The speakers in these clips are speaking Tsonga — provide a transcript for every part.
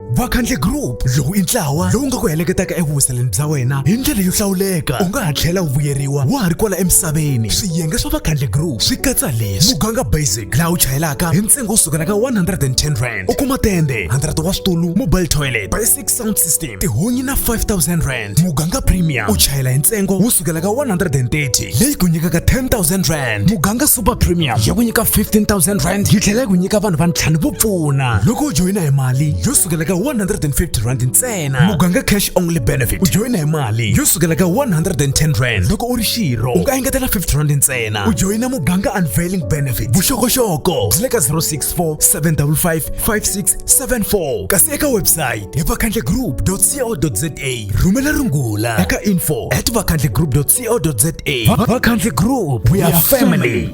vakhandle group lowu i ntlawa lowu nga ku heleketaka evuhuseleni bya wena hi ndlela yo hlawuleka u nga ha tlhela u vuyeriwa wa ha ri kwala emisaveni swiyenge swa vakhandle group swi katsa leswi muganga basic laha u chayelaka hi ntsengo wo sukela ka 110 rand u kuma tende 100 wa switulu mobile toilet basic sound system tihunyi na 5000 rand rand muganga premium u chayela hi ntsengo wo sukela ka 130 leyi ku nyikaka 10000 rand muganga super premium ya ku nyika 15000 rand yi tlhela yi ku nyika vanhu va ntlhanu vo pfuna loko u joyina hi mali yo sukela ka 150 rand ntsena muganga cash only benefit u joyina hi mali yo sukela ka 110 rand loko u ri xirho u nga engetela 50 rand ntsena u joyina muganga unveiling benefit vuxokoxoko byi le ka 064 755 5674 kasi eka website hi vakhandle group vakhandlegroup.co.za rhumela rungula eka info at vakhandlegroup.co.za vakhandle group we are family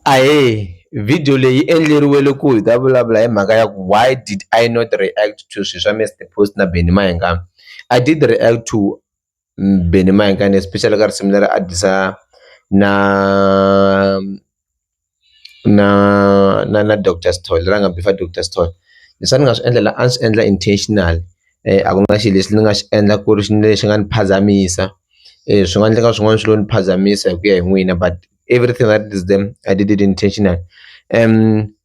ahee video leyi endleriwele ku hi ta vulavula hi mhaka ya ku why did I not react to swilo swa Mister Post na Benny Mayengani I did react to Benny Mayengkane especially ka risimu leri a disa na na na na doctor Sithole leri a nga bifa doctor Sithole leswi a ni nga swi endla la a ni swi endla intentional a ku na xilo lexi ni nga xi endla ku ri lexi nga ni phazamisa swi nga endleka swin'wana swi lo ni phazamisa hi ku ya hi n'wina but everything that is them I did it intentional .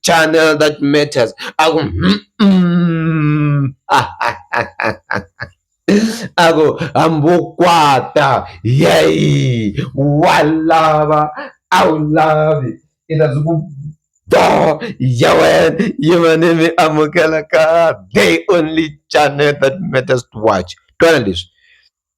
channel that matters aku mm, mm. ako hambokwata yay walava awulavi ita zuku do yawen yimanimi amukelaka they only channel that matters to watch twana leswi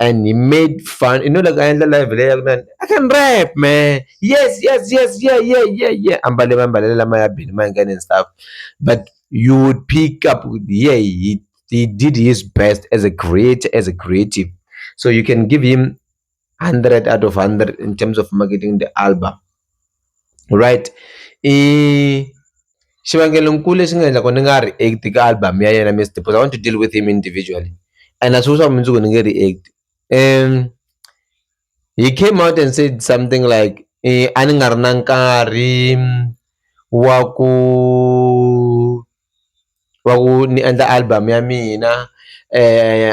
and he made fun you know like a endla live leyi ya ku nani i can rap man yes yes yes yeah yeah yeah yeah ambale mambalelo lama ya bini ma nghena and stuff but you would pick up yeah he, he did his best as a creator as a creative so you can give him 100 out of 100 in terms of marketing the album right i xivangelonkulu lexi nga endla ku ni nga react ka album ya yena Miss Dimpho I want to deal with him individually and a swi vuli swa ku mundzuku ni nge react he came out and said something like a ni nga ri na nkarhi wa ku va ku ni endla album ya mina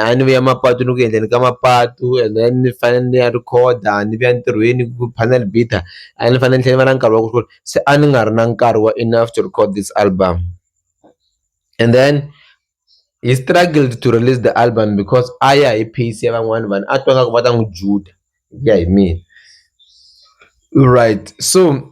a ni vuya mapatu ni ku endleni ka mapatu and then ni fanele ni ya rhikhoda ni vuya ntirhweni ku panel beater a ni fanele ni tlhela ni va na nkarhi wa ku se a ni nga ri na nkarhi wa enough to record this album and then he struggled to release the album because a ya hi pace ya van'wani vanhu a twa nga ku va ta n'wi juda hi ku ya hi mina right so.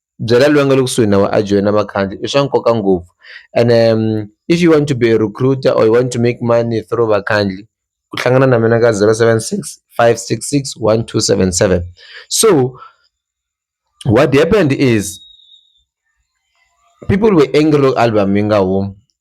byela loyi a nga le kusuhi na wena a joyina vakhandziyi i swa nkoka ngopfu ene if you want to be a recruiter or you want to make money through vakhandziyi ku hlangana na mina ka zero seven six five six six one two seven seven so what happened is people were angry loko album yi nga humi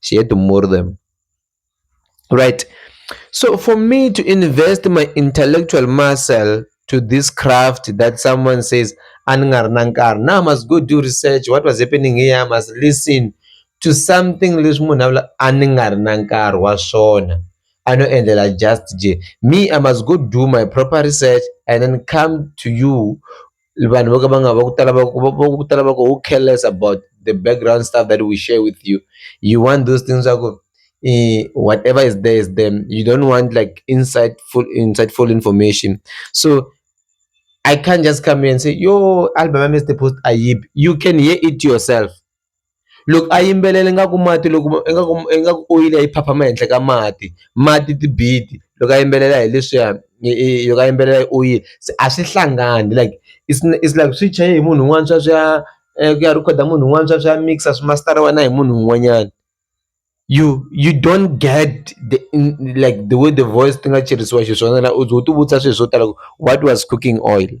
she had to murder them right so for me to invest my intellectual muscle to this craft that someone says angarnankar now i must go do research what was happening here i must listen to something leswi munhu a vula a ni nga ri na nkarhi wa swona a no endlela just je me i must go do my proper research and then come to you vanhu vo ka va nga va ku tala va ku va ku tala va ku who care less about the background stuff that we share with you you want those things swa ku whatever is there is there you don't want like insightful insightful information so I can't just come here and say yo album yami is the post ayib you can hear it yourself loko a yimbelela ingaku mati loko ingaku ingaku oyili a yi phapha ehenhla ka mati mati ti-beat loko a yimbelela hi leswiya i loko a yimbelela hi oyili se a swi hlangani like it's it's like swi chajiwe hi munhu un'wana sweswiya ku ya rhikhoda munhu un'wana sweswiya a mix-a swi masitara wena hi munhu un'wanyana you you don't get the like the way the voice ti nga celisiwa xiswona u ze u tivutisa swilo swo tala ku what was cooking oil.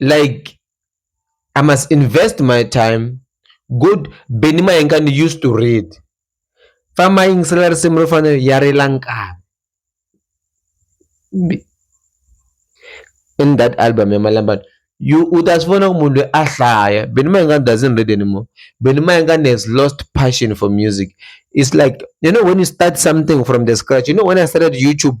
like I must invest my time good Benny Mayengani used to read famba yingisela risimu ro fana ya rila nkarhi in that album ya malambana you u ta swi vona ku munhu loyi a hlaya Benny Mayengani doesn't read anymore Benny Mayengani has lost passion for music it's like you know when you start something from the scratch you know when I started YouTube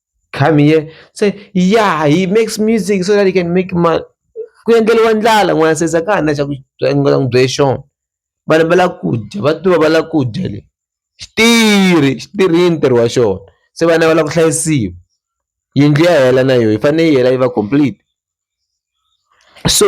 come here se ya hi makes music so that you can make money ku endleriwa ndlala n'wana se za ka ha na xa ku nga n'wi byele xona vanhu va lava ku dya va tiva va lava ku dya le xi tirhi xi tirhini ntirho wa xona se vana va lava ku hlayisiwa yindlu ya hela na yona yi fanele yi hela yi va complete so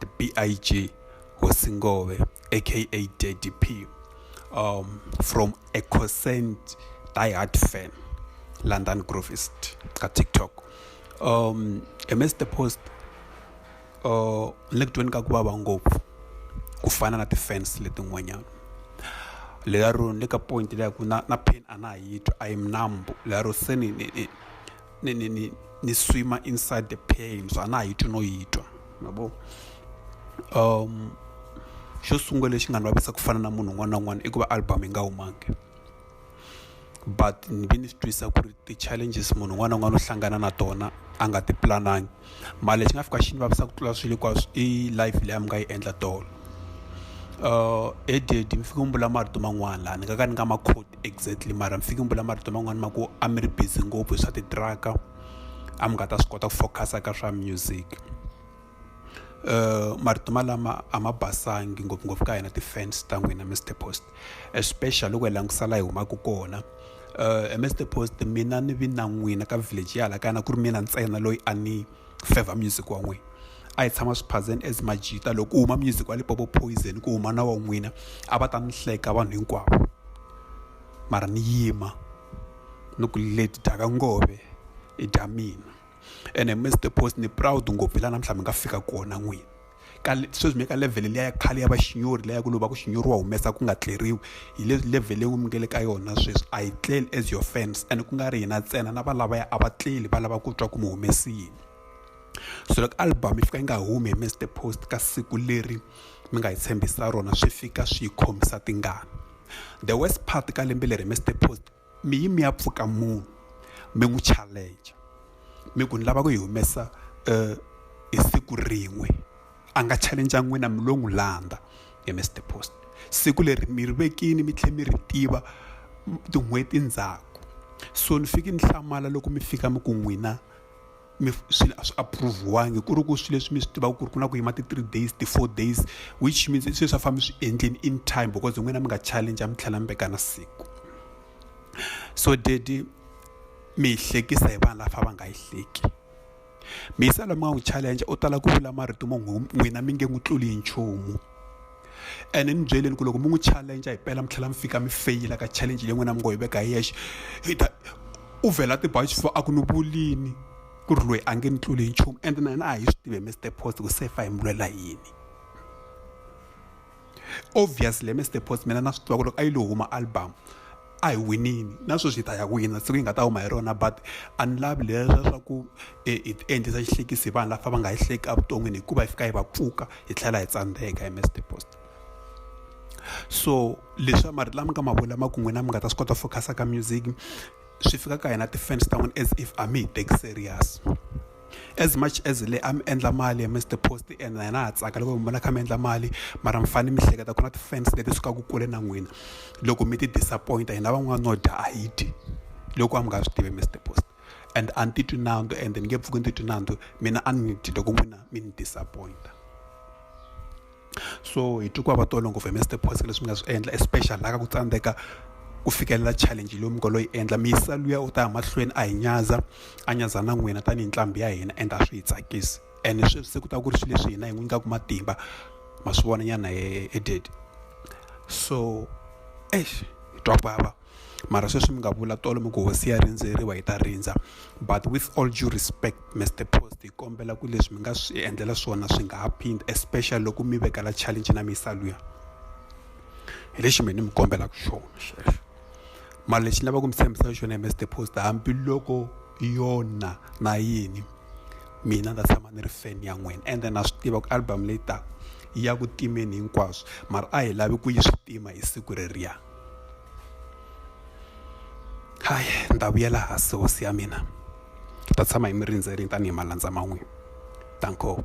the BIG Hosingove, aka Daddy P, um, from a concerned diehard fan, London Groovist, ka TikTok. Um, I missed the post. Uh, le kutweni ka ku vava ngopfu ku fana na ti-fans letin'wanyana lera ro ni le ka point leya ku na na pain a na ha yi twa i am numb lera ro se ni ni ni, ni, ni, ni swima inside the pain so a na ha yi twi no yi twa mabo um xo sungula lexi nga ni vavisa ku fana na munhu un'wana na un'wana i ku va album yi nga humangi but ni ve ni swi twisa ku ri ti-challenges munhu un'wana na un'wana u hlangana na tona a nga ti pulanangi mara lexi nga fika xi ni vavisa ku tlula swilo hinkwaswo i life leyi a mi nga yi endla tolo uh, eh, ededi mi fike mi vula marito man'wana laha ni nga ka ni nga ma code exactly mara mi fike mi vula marito man'wana ma ku a mi ri busy ngopfu hi swa titraka a mi nga ta swi kota ku focus-a ka swa music uh, marito malama a ma basangi ngopfungopfu ka hina ti-fans ta n'wina mr post especially loko hi langutisa laha hi humaka kona uh, ms the post mina ni vi na n'wina ka village ya hala kaya na ku ri mina ntsena loyi a ni favor music wa n'wina a hi tshama swiphazeni as majita loko u huma music wa lipopo poison ku huma na wa n'wina a va ta ni hleka vanhu hinkwavo mara ni yima ni ku leti dyaka ngove i dya mina ene mi the post ni proud ngopfu hi laha namuntlha mi nga fika kona n'wini ka sweswi mi ka level liya ya khale ya vaxinyori leya ku lova ku xinyori wa humesa ku nga tleriwi hi le level leyi mi nge le ka yona sweswi a yi tleli as your fans and ku nga ri hina ntsena na valavaya a va tleli va lava ku twa ku mi humesi yini so loko album yi fika yi nga humi hi mr post ka siku leri mi nga hi tshembisa rona swi fika swi yi khomisa tingana the worst part ka lembe leri mr post mi yi mi ya pfuka munhu mi n'wi challenge mi ku ni lava ku yi humesa um hi siku rin'we a nga challenge n'wina mi lo n'wi landza hi mi star post siku leri mi ri vekini mi tlhela mi ri tiva tin'hweti ndzhaku so ni fike ni hlamala loko mi fika mi ku n'wina mi swilo a swi approve-wangi ku ri ku swilo leswi mi swi tivaka ku ri ku na ku yima ti-three days ti-four days which means i swilo swa famba swi endleni in time because n'wina mi nga challenge mi tlhela mi veka na siku so dedi mi yi hlekisa hi vanhu lafa va nga yi hleki mi yisa loyi mi nga n'wi challenge u tala ku vula marito mo n'wina mi nge n'wi tluli hi nchumu ene ni byeleni ku loko mi n'wi challenge hi pela mi tlhela mi fika mi feyila ka challenge leyi n'wina mi ngo yi veka hi yexe hi ta u vhela tiba xifuva a ku ni vulini ku ri loyi a nge ni tluli hi nchumu ende na hina a hi swi tivi hi mr post ku se fa hi mi lwela yini obviously mr post mina na swi tiva ku loko a yi lo huma album a hi winini na sweswi hi ta ya wina siku yi nga ta huma hi rona but a ni lavi leswa swa ku e, hi ti endlisa xihlekisi hi vanhu lafa va nga hi hleki evuton'wini hikuva hi fika hi va pfuka hi tlhela hi tsandzeka hi mr post so leswi mari lama nga ma vula ma ku n'wina mi nga ta swi kota focus ka music swi fika ka hina ti-fans ta n'wina as if a mi hi teki serious as much as le a mi endla mali mi swi post and na ha tsaka loko mi vona kha mi endla mali mara mi fanele mi hleketa ku na ti-fans leti sukaka kule na n'wina loko mi ti disappoint-a hina van'wana no dya a hi dyi loko a mi nga swi tivi mi swi post and a ni titwi nandzu and ni nge pfuki ni titwi nandzu mina a ni dyi loko n'wina mi ni disappoint-a. so hi twa ku vava tolo ngopfu hi Mister Phosa leswi mi nga swi endla especially la ka ku tsandzeka ku fikelela challenge leyi mi ngo lo yi endla mi yisa luya u ta ya mahlweni a hi nyadza a nyadza na n'wina tanihi nqambi ya hina and a swi hi tsakisi and sweswi se ku ta ku ri swilo leswi hina hi n'wi nyikaka matimba ma swi vona nyana he he did so eish hi twa ku vava. mara sweswi mi nga vula tolo mi ku hosi ya rindzeriwa hi ta rindza but with all due respect mr post hi kombela ku leswi mi nga swi endlela swona swi nga ha phindi especially loko mi vekela challenge na misa luya hi lexi mina ni mi kombelaka xona xexo mara lexi ni lavaka ku mi tshembisa xona hi mr post hambiloko yona na yini mina ndza tshama ni ri fan ya n'wina ende na swi tiva ku album leyi taka ya ku timeni hinkwaswo mara a hi lavi ku yi swi tima hi siku reriya Hi ni ta vuyela hansi hosi ya mina ni ta tshama hi mi rindzerile tanihi malandza ma n'wina danko.